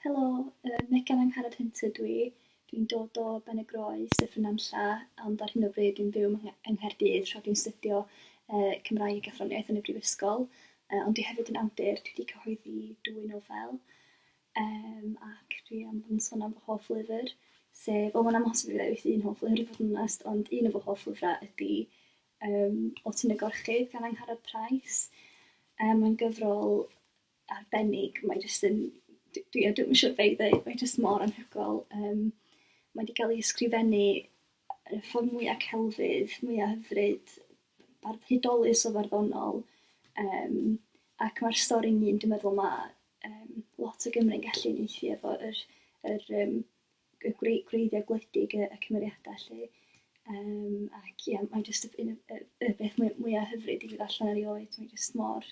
Helo, yy Megan Angharad Hunt ydw i. Dwi'n dod o Benygroes, Sir Fynanlla, ond ar hyn o bryd dwi'n byw yng Ngh- yng Nghaerdydd tra dwi'n studio yy Cymraeg a Athroniaeth yn y Brifysgol. Yy ond dwi hefyd yn awdur, dwi 'di cyhoeddi dwy nofel, yym ac dwi am fod yn sôn am fy hoff lyfr, sef... wel ma'n amhosib i fi ddewis un hoff lyfr i fod yn onest, ond un o fy hoff lyfrau ydi Yym, o ti'n y gorchudd gan Angharad Price. Yym, mae'n gyfrol arbennig, mae jyst yn... d- dwi yn ddim yn siŵr be i ddweud, mae jyst mor anhygoel. Yym, mae 'di cael ei ysgrifennu yn y ffordd mwya' celfydd, mwya' hyfryd, bardd hudolus o farddonol, yym, ac mae'r stori'n un dwi'n meddwl ma' yym lot o Gymry'n gallu uniaethu efo yr yr yym y gwreiddiau gwledig, y, y cymeriadau lle. Um, ac ie, yeah, mae jyst y, y, y, y beth mwyaf hyfryd i fi allan ar ei oed, mae jyst mor,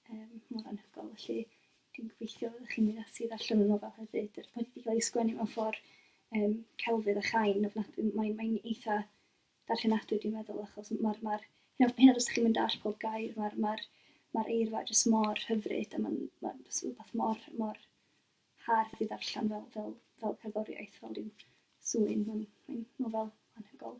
um, mor anhygol. Felly, dwi'n gobeithio fod chi'n mynd ati allan o'n nofel hefyd. Yr wedi cael ei sgwennu mewn ffordd um, celfydd a chain, ofnadwy, mae'n mae eitha darllenadwy dwi'n meddwl, achos mae'r, ma hyn o bryd chi'n mynd all pob gair, mae'r ma ma eirfa jyst mor hyfryd, a mae'n ma, ma rhywbeth mor, mor hardd i ddarllen fel, fel, fel cerddoriaeth, fel rhyw sŵyn. Mae'n mae nofel anhygol.